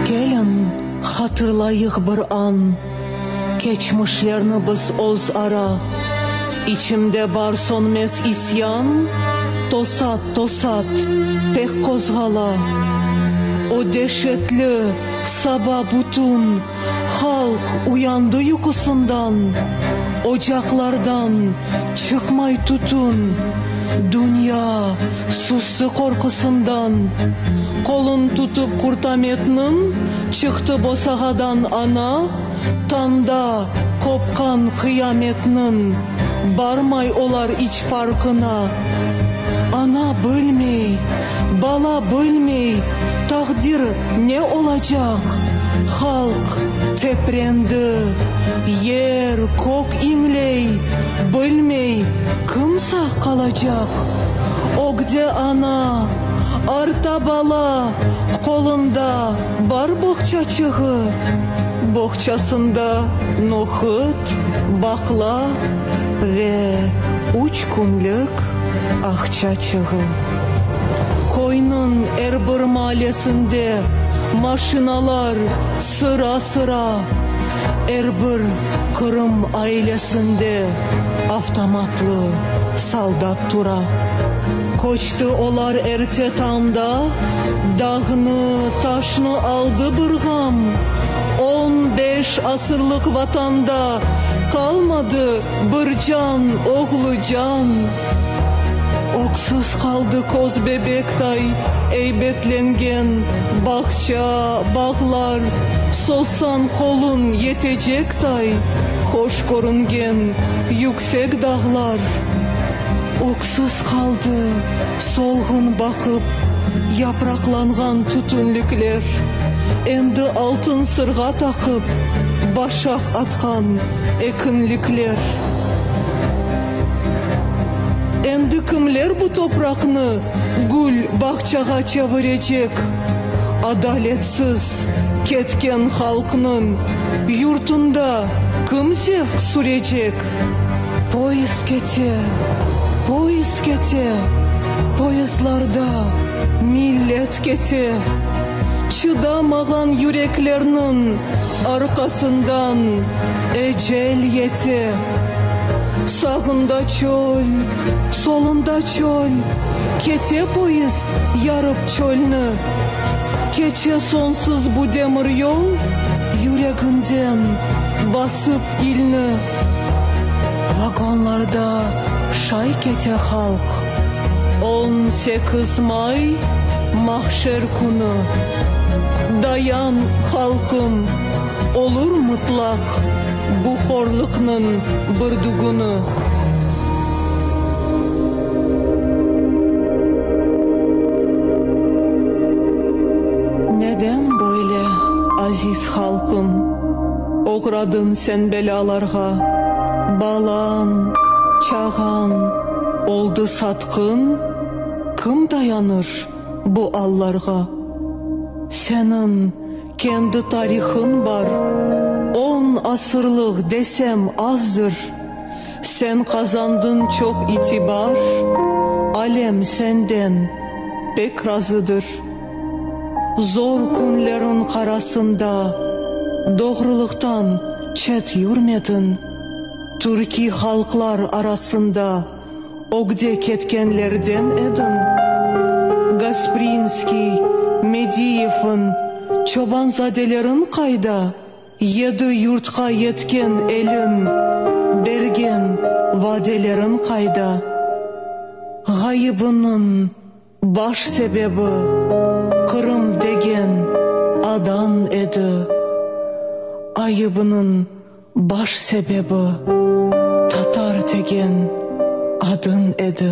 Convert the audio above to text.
Keliñ, hatırlayıq bir an, Keçmişlerni biz öz ara, İçimde bar sönmez isyan, Tosat, tosat, pek qozğala. O deşetli saba bütün. Halq uyandı yuqusından, Ocaqlardan çıqmay tütün. Dünya sustu qorqusından, Qolun tutıp Qurtametniñ, Çıqtı bosağadan ana, Tanda qopqan qıyametniñ. Barmay olar içeri. Farqına, ana bilmey, bala bilmey, taqdir ne olacaq? Halq teprendi, yer, kök iñley, bilmey, kim sağ qalacaq? Ögde ana, arta bala, qolunda bar boğçaçığı, boğçasında nohut, baqla. ve üç künlük aqça çığı. Köyniñ er bir maalesinde maşinalar sıra-sıra, er bir qırım ailesinde avtomatlı soldat tura. İşte olar erte tamda dağnı, taşnı aldı bir ğam, On beş asırlıq Vatanda qalmadı bir can, oğlu can. Öksüz qaldı köz bebektay eybetlengen bağça, bağlar, Sozsañ qoluñ yeteçektay hoş körüngen yüksek dağlar. Sız qaldı, solğun baqıp, yapraqlanğan tütünlikler, endi altın sırğa taqıp, başaq atqan ekinlikler. Endi kimler bu topraqnı gül bağçağa çevirecek? Adaletsiz ketken halqnıñ yurtunda kim zevq sürecek? Poyezd kete, poyezd kete, Poyezdlarda millet kete, Çıdamağan yüreklerniñ arqasından Ecel yete. Sağında çöl, solunda çöl, Kete poyezd yarıp çölni. Keçe sonsuz bu demir yol, Yüreginden basıp İlni vagonlarda şay kete halq, On sekiz may, mahşer künü, Dayan, halqım, olur mıtlaq Bu horlıqnıñ bir dügünü. Halqım, oğradın sen belâlarğa, Balañ, çağañ oldı satqın, Kim dayanır bu allarğa? Senin kendi tarihıñ bar, On asırlıq desem azdır, Sen qazandın çoq itibar, Alem senden pek razıdır. Zor künleriñ qarasında doğrulıqtan çet yürmediñ, türkiy halqlar arasında ögde ketkenlerden ediñ. Gasprinskiy, Mediyevniñ, Çobanzadeleriñ qayda? Yedi yurtqa yetken eliñ, bergen vadeleriñ qayda? Ğayıbınıñ. Baş sebebi, Qırım degen adan edi. Ayıbınıñ baş sebebi, Tatar degen adın edi.